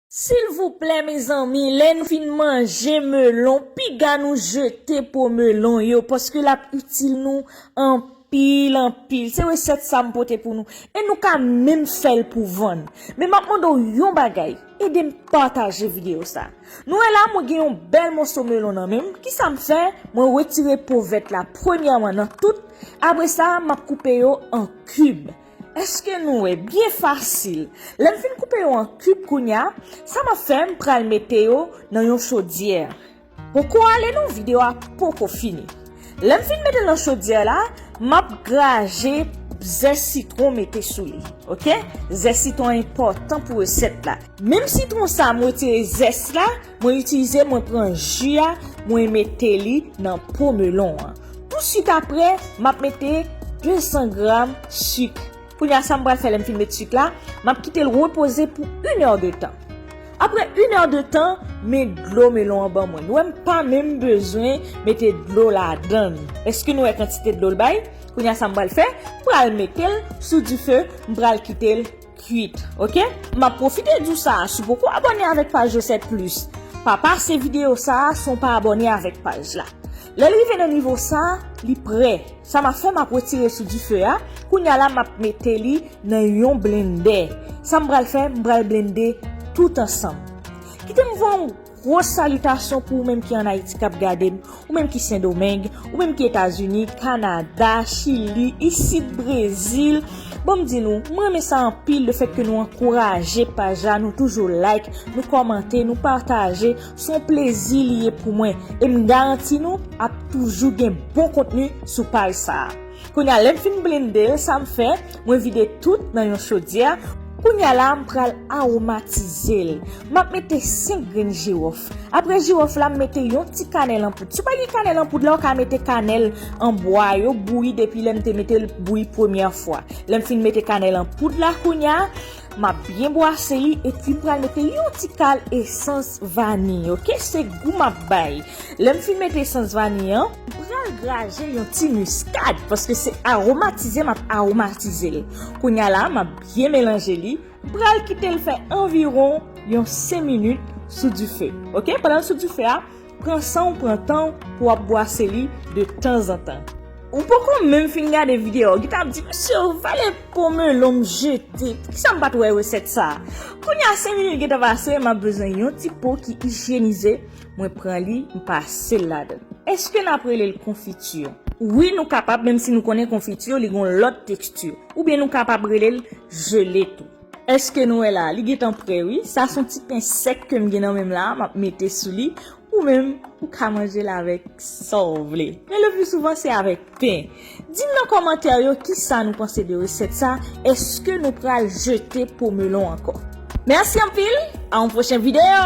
Silvouplè mezanmi lèn fin manje melon piga nou jete po melon yo paske lap itil nou anpil anpil se resèt sa m pote pou nou e nou ka menm fèl pou vann men map mande w yon bagay edem pataje video sa nou wè la mwen gen yon bèl moso melon nan menm kisa m fè mwen retire po vèt la premyèman nan tout apresa map koupe yo an kib Eske nou wè byen fasil. Lèm fin koupe yo an kib kounya sa map fè m pral mete yo nan yon chodyè poko ale non video a poko fini lèm fin metel nan chodyè la map graje ze sitron mete sou li ok ze sitron enpòtan pou resèt la menm sitron sa m retire zès la. Mwen itilize mwen pran ju a mwen mete li nan po melon an. Tou suit apre map mete 200 gram suk. Kounya sam pral fè lèm fin met suk la, map kitel repoze pou 1 heure de tan. Apre 1 heure de tan men dlo melon an ban mwen. Nou wèm pa menm bezwen mete dlo ladann. Eske nou wè kantite dlo l bay? Kounya sam pral fè, m pral metel sou dife, m pral kitel. kwit ok. Map profite di w sa si w poko abòne avèk paj resèt plis pa pase videyo sa san w pa abòne avèk paj la lèl rive nan nivo sa li prè sa map fè map retire sou dife a kounya la map mete li nan yon blendè sam pral fè m pral blende tout ansanm kite m voye w Gwo salitasyon pou ou menm ki an Ayiti kap gade m, ou menm ki Sendomeng, ou menm ki Etazini, Kanada, Chili, isit Brezil, bon m di nou, m renmen sa anpil le fèt ke nou ankouraje paj la, nou toujou like, nou kòmante, nou pataje, s on plezi li ye pou mwen, e m garanti nou ap toujou gen bon kontni sou paj sa a. Kounya lèm fin blendel sam fè mwen vide tout nan yon chodyè, kounya la m pral aromatizel map mete 5 grenn jirof aprè jirof la m mete yon ti kanèl anpoud si w pa gen kanèl anpoud la w ka mete kanèl an bwa yo bouyi depi lèm te metel bouyi premyè fwa lèm fin mete kanèl anpoud la kounya Map byen bwase li epi pral mete yon ti kal esans vani ok se gou map bay lèm fin mete esans vani an mpral graje yon ti miskad paske se aromatize map aromatizel kounya la map byen melanje li mpral kitel fè anviron yon 5 minit sou dife ok pandanl sou dife a. Pran san w pran tan w pou w ap bwase li de tanzantan. Ou poko menm fin gade videyo a ou gentan ap di mesye ou vale po melon m jete poukisa m pat wè resèt sa a. Kounye a 5 minit gentan pase m ap bezwen yon ti po ki ijyenize mwen pran li m pase l ladann. Eske n ap rele l konfiti? Wi nou kapab menm si nou konnen konfiti li gon lòt teksti oubyen nou kapab rele l jele tou. Eske nou wè la, li gentan prè wi, sa son ti pen sèk kem gen nan menm la map mete sou li, ou menm ou ka manjel avèk Saw vle, men le plus souvent se avèk pen. Dim nan kòmantè yo kisa nou panse de resèt sa, eske nou pral jete po melon ankò. Merci anpil, a yon pwochen video!